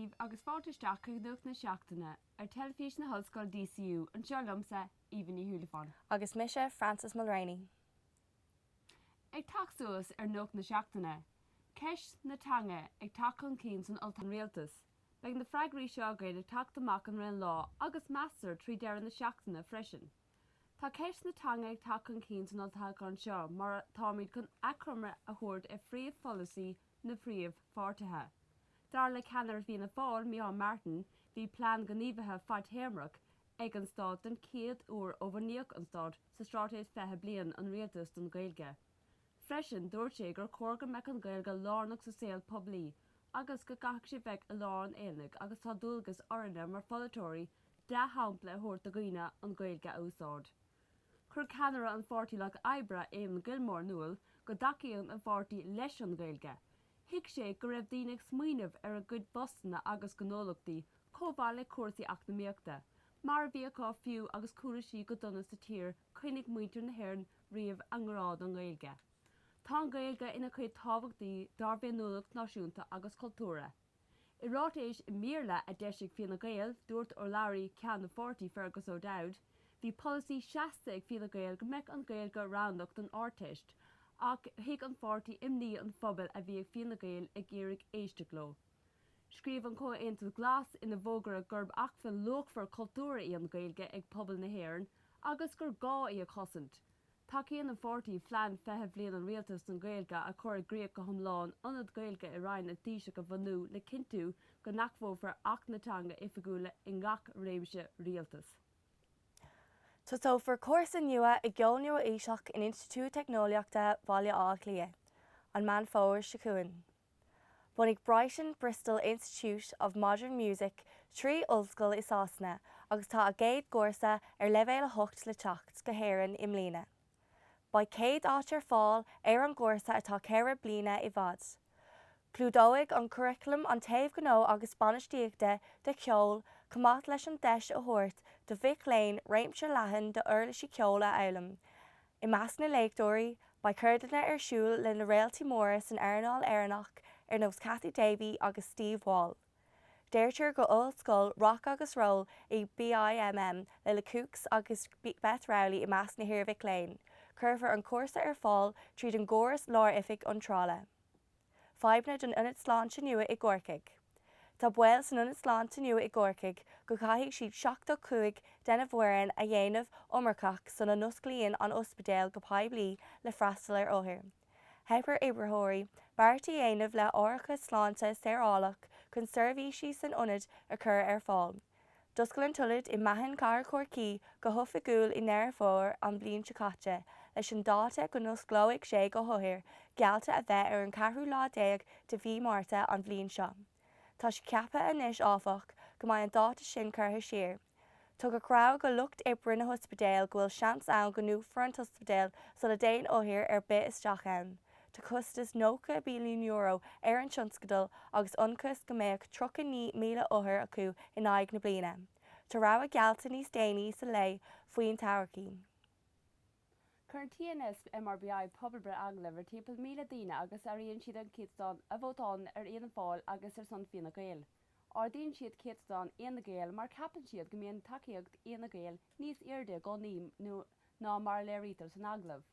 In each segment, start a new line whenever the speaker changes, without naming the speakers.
díbh agus fáilte isteach chuig Nuacht na Seachtaine ar Teilifís na hOllscoile DCU, anseo liomsa, Aoibhinn Ní Shúilleabháin. Agus mise,
Frances
Mulraney. Ag teacht suas ar nuacht na seachtaine, ceist na teanga ag teacht chun cinn san Olltoghchán. An Rialtas Beidh na freagraí seo agaibh ag teacht amach an roinnt lá agus, meastar, trí deireadh na seachtaine freisin. Tá ceist na teanga ag teacht chun cinn san olltoghchán seo mar táimid chun achoimre a thabhairt ar phríomhpholasaí na bpríomhpháirtithe. Dar le ceannaire Fianna Fáil, Micheál Martin, bhí plean gníomhaithe fadtéarmach ag an stát den chéad uair ó bhunaíodh an stát sa Straitéis 20 Bliain an Rialtais don Gaeilge. Freisin, dúirt sé gur chóir go mbeadh an Gaeilge lárnach sa saol poiblí agus go gcaithfeadh sí bheith i lár an aonaigh agus tá dualgas orainne mar pholaiteoirí dea-shampla a thabhairt do dhaoine an Ghaeilge a úsáid. Chuir ceannaire an Pháirtí Lucht Oibre, Eamon Gilmore in iúl go dtacaíonn an pháirtí leis an Ghaeilge. Thuig sé go raibh daoine ag smaoineamh ar a gcuid bpostanna agus gnólachtaí chomh mhaith le cúrsaí eacnamaíochta, mar a bhí acu fiú agus cúrsaí go dona sa tír choinnigh muintir na hÉireann riamh a ngrá don Gaeilge. Tá an Ghaeilge ina chuid tábhachtaí dár bhféiniúlacht náisiúnta agus cultúrtha. I ráiteas i mBéarla a d'eisigh Fine Gael, dúirt urlabhraí ceann na pháirtí, Fergus O'Dowd, Bhí polasaí seasta ag Fine Gael go mbeadh an Gaeilge roghnach don Ardteist ach thuig an pháirtí imní an phobail a bhí ag Fine Gael ag iarraidh éisteacht leo. Scríobh an Comhaontas Glas ina bhfógra gurb acmhainn luachmhar cultúrtha í an Gaeilge ag pobal na hÉireann agus gur gá í a chosaint. Tacaíonn an pháirtí Phlean 20 Bliain an Rialtais don Gaeilge a chur i gcrích go hiomlán, Ionad Gaeilge i Roinn an Taoisigh a bhunú le cinntiú go n-admhófar Acht na Teanga Oifigiúla i ngach réimse
Rialtais. Tosófar cúrsa nua i gceol nua-aoiseach in Institiúid Teicneolaíochta Bhaile Átha Cliath an Meán Fómhair seo chugainn. Bhunaigh Brighton Bristol Institute of Modern Music trí ollscoil i Sasana agus tá a gcéad gcúrsa ar leibhéal 8 le teacht go hÉirinn i mbliana. Beidh céad áit ar fáil ar an gcúrsa atá ceithre bliana i bhfad. Clúdóidh an curaclam an taobh gnó agus bainistíochta de cheol chomh maith leis an deis a thabhairt do mhic léinn réimse leathan d'uirlisí ceoil a fhoghlaim, I measc na léachtóirí, beidh ceardlanna ar siúl le na réaltaí móra san earnáil Éireannach ar nós Cathy Davey agus Steve Wall. Deirtear go Ollscoil Rock agus Roll í BIMM le The Kooks agus Beth Rowley i measc na hiarmhic léinn, cuirfear an cúrsa ar fáil tríd an gcóras lár-oifig iontrála. Fadhbanna don Ionad Sláinte nua i gCorcaigh Tá baol san Ionad Sláinte nua i gCorcaigh go gcaithfidh siad 75 dena bhfoireann a dhéanamh iomarcach sula n-osclaíonn an ospidéal go poiblí le freastal ar othair. Theip ar oibritheoirí beart a dhéanamh le hárachas sláinte saorálach chun seirbhísí san ionad a chur ar fáil. D'oscail an t-ionad i Machain cathair Chorcaí go hoifigiúil i nDeireadh Fómhair an bhliain seo caite leis an dáta go n-osclóidh sé do othair geallta a bheith ar an ceathrú lá déag de mhí Márta an bhliain seo. Tá sé ceaptha anois, áfach, go mbeidh an dáta sin curtha siar. Tugadh rabhadh do lucht oibre na hospidéal go bhfuil seans ann go ndúnfar an t-ospidéal sula dtéann othar ar bith isteach ann. Tá costas €90 billiún ar an tionscadal agus ionchas go mbeadh 39,000 othar acu in aghaidh na bliana. Tá ráiteas geallta níos déanaí sa lae faoin todhchaí.
Cuireann TNS MRBI pobalbhreith agallamh ar timpeall 1,000 daoine agus áiríonn siad an céatadán a vótálann ar Fhianna Fáil agus ar son Fine Gael. Ardaíonn siad céatadán Fhine Gael mar ceapann siad go mbíonn tacaíocht Fhine Gael níos airde i gcónaí ná mar a léirítear san agallamh.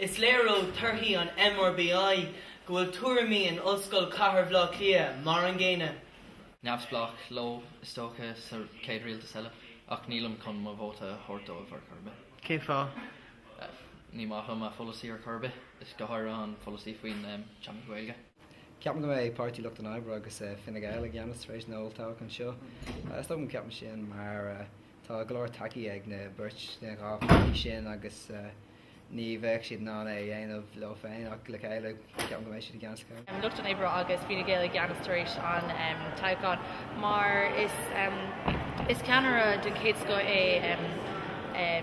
Is léir
ó thorthaí an MRBI go bhfuil tuairimí in Ollscoil Chathair Bhaile Átha Cliath mar an gcéanna. neamhspleáigh
leo, is dócha, sa chéad rialtas eile, ach nílim chun mo vóta a thabhairt dóibh ar chor ar bith. Cén
fáth?
Ní maith liom a bpolasaí ar chor ar bith, is go háirithe an polasaí faoin teanga Gaeilge. Ceapaim go mbeidh
Páirtí Lucht an Oibre agus Fine Gael i gceannas tar éis an olltoghchán seo. Is dócha go ceapaim sin mar. Tá go leor tacaí ag na beirt sna dhá pháirtí sin agus ní bheadh siad in ann é a dhéanamh leo féin ach le chéile ceapaim go mbeidh siad i gceannas go mbeidh Lucht an Oibre
agus Fine Gael i gceannas tar éis an toghcháin mar is ceannaire den chéad scoth é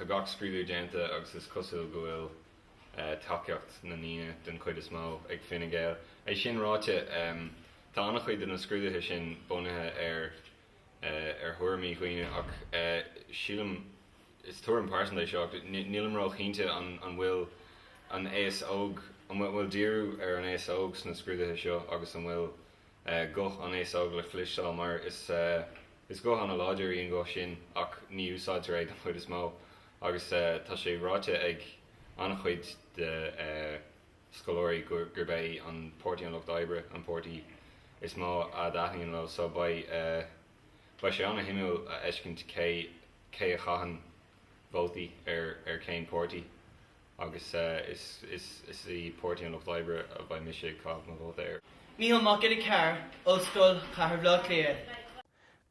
Tá gach scrúdú déanta agus is cosúil go bhfuil tacaíocht na ndaoine, den chuid is mó, ag Fine Gael. É sin ráite, tá an-chuid de na scrúduithe sin bunaithe ar thuairimí dhaoine ach sílim, is tuairim pearsanta é seo, nílim ró-chinnte an bhfuil an aos óg, an bhfuil díriú ar an aos óg sna scrúduithe seo agus an bhfuil guth an aos óg le cloisteáil mar is, Is guth an-láidir í an ghuth sin ach ní úsáidtear é den chuid is mó agus tá sé ráite ag an-chuid de scoláirí gurb é an Páirtí an Lucht Oibre an páirtí is mó a dtaitníonn leo so beidh beidh sé an-shuimiúil a fheiscint cé cé a chaitheann vótaí ar chén páirtí. agus is í Páirtí an Lucht Oibre a bheidh mise ag caitheamh mo vóta air. Mícheál Mac Giolla Chearr,
Ollscoil Chathair Bhleá Cliath.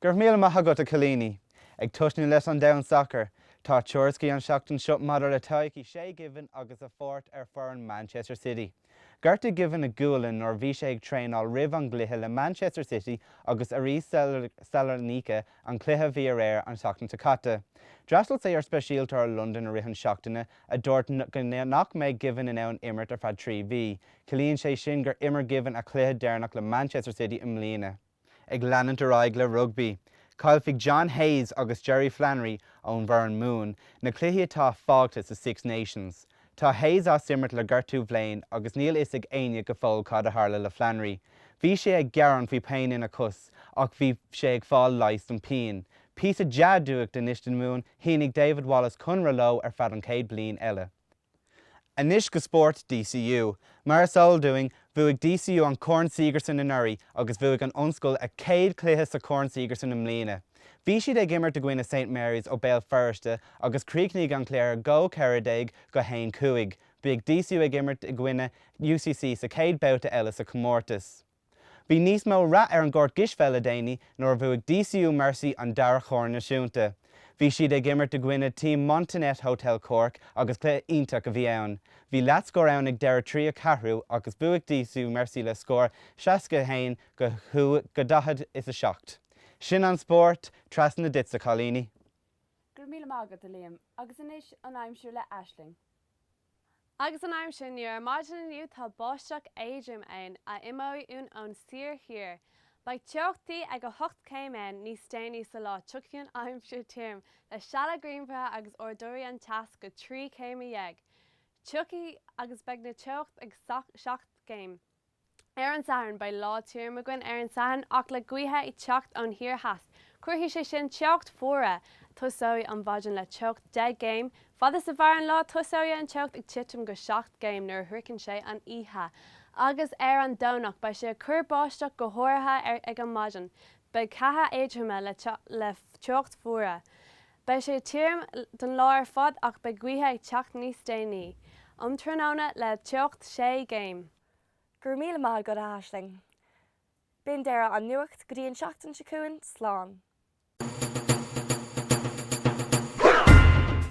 Go
raibh míle maith agat, a chailíní! Ag tosnú leis an domhan sacair, tá tuairiscí an seachtain seo maidir le todhchaí Shay Given agus a pháirt ar foireann Manchester City. Gortaigh Given a gualainn nuair a bhí sé ag traenáil roimh an gcluiche le Manchester City agus Aris Salonika an cluiche a bhí aréir an tseachtain seo caite. D'fhreastail sé ar speisialtóir Londain i rith an seachtaine a dúirt go nach mbeidh Given in ann imirt ar feadh trí mhí. Ciallaíonn sé sin gur imir Given a chluiche deireanach le Manchester City i mbliana. Ag leanúint ar aghaidh le rugbaí, caillfidh John Hayes agus Jerry Flannery ón bhfoireann Mumhan na cluichí atá fágtha sa Six Nations. Tá Hayes as imirt le gortú bhléin agus níl fhios ag éinne go fóill cad a tharla le Flannery. Bhí sé ag gearán faoi pian ina chos ach bhí sé ag fáil leigheas don phian. Píosa dea-nuacht anois don Mhumhain, shínigh David Wallace conradh leo ar feadh an chéad bliain eile. Anois go spórt DCU. Mar is eol dúinn, bhuaigh DCU an Corn Sigerson anuraidh agus bhuaigh an Ollscoil a céad chluiche sa Chorn Sigerson i mbliana. Bhí siad ag imirt i gcoinne Saint Marys ó Béal Feirste agus chríochnaigh an cluiche 2-14 go 1-5. Beidh DCU ag imirt i gcoinne UCC sa chéad babhta eile sa chomórtas. Bhí níos mó rath ar an gcúirt gcispheil le déanaí nuair a bhuaigh DCU Mercy an dara chorn naisiúnta. Bhí siad ag imirt i gcoinne Team Montennette Hotel Cork agus cluiche iontach a bhí ann. Bhí leathscór ann ag deireadh tríú ceathrú agus bhuaigh DCU Mercy le scór seasca a haon go daichead is a seacht. Sin an spórt, trasna duit a chailíní. Go raibh míle
maith agat, a Liam. Agus anois an aimsir le Aisling.
Agus an aimsir inniu, ar maidin inniu tá báisteach éadrom ann a imeoidh uainn ón soir thiar. Beidh teochtaí ag 8 céim ann níos déanaí sa lá tiocfaidh an aimsir tirim le sealanna grianmhara agus ardóidh an teas go 13 céim. Tiocfaidh agus beidh na teocht ag 7 gcéim. ar an Satharn. Beidh lá tirim againn ar an Satharn ach le gaoithe ag teacht ón thiar theas cuirfidh sé sin teocht fuaire. Tosóidh an mhaidin le teocht 10 gcéim. Fad is a mhair an lá tosóidh an teocht ag titim go 7 gcéim nuair a shroicheann sé an oíche agus ar an Domhnach beidh sé ag cur báisteach go háirithe ag an maidin. Beidh ceatha éadroma le teocht fuaire. Beidh sé tirim don lá ar fad ach beidh gaoithe ag teacht níos déanaí um tráthnóna le teocht 6 gcéim. Go raibh míle
maith agat a hAisling. Sin deireadh an Nuacht go dtí an seachtain seo chugainn, slán.